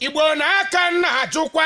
igbo na aka nna ajụkwa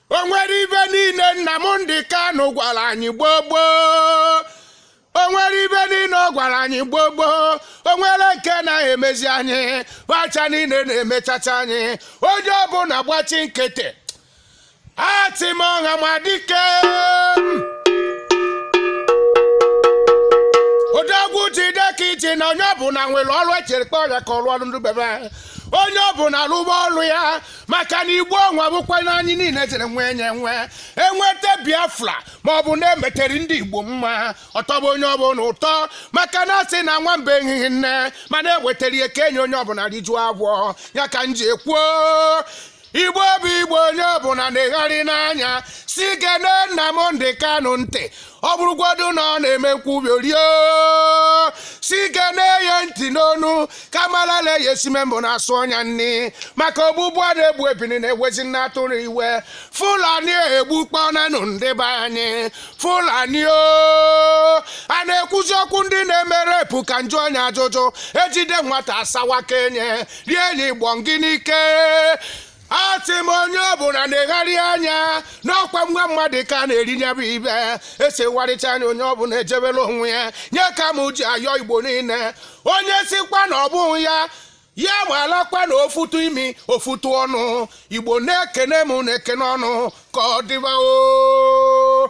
o nwere ife niile nnamdi kanu gwara anyị gboo gboo o nwere ife niile ọ gwara anyị gboo gboo o nwere nke na-emezi anyị fa ncha niile na-emechacha anyị onye ọbụla gbachi nkịtị asị m ọhamadike odogwu jide ka i ji na onye ọbụla nwere ọrụ echere kpe ọrịa ka ọrụ ọrụ ndị be be onye ọbụla rụba ọrụ ya maka na igbo ọnwa bụkwa na anyị niile jere nwee nye nwe enweta biafra ma ọ bụ na-emetere ndị igbo mma ọ tọgbuo onye ọbụla ụtọ maka na a sị na nwamba ehighị nne mana e wetara ya kee nye onye ọbụla rijuo afọ ya ka m ji ekwuo igbo bụ igbo onye ọbụla negharịa anya si gee nnamdi kanu ntị ọ bụrụgodu na ọ na-eme nkwubi orio si ike na-eye ntị n'ọnụ ka mara na-eye e si eme mbụ na-asụ ọnya nri maka ogbugbu a na-egbu ebini na-ewezi nne atụrụ iwe fulani egbukpọnanụ ndị be anyị fulani o a na-ekwuzi okwu ndị na-eme rape ka njụ onye ajụjụ e jide nwata asawa ka enye rie enyi gbọ ngị n'ike asị m onye ọbụla negharịa anya na ọ kwa nwa mmadụ ka a na-eri nya bụ ife esegharịcha anya onye ọbụla ejebela onwe ya nya ka m ji ayọ igbo niile onye sikwa na ọ bụghị ya ya malakwa na ofutu imi ofutu ọnụ igbo na-ekene m na-ekene unu ka ọ dịba o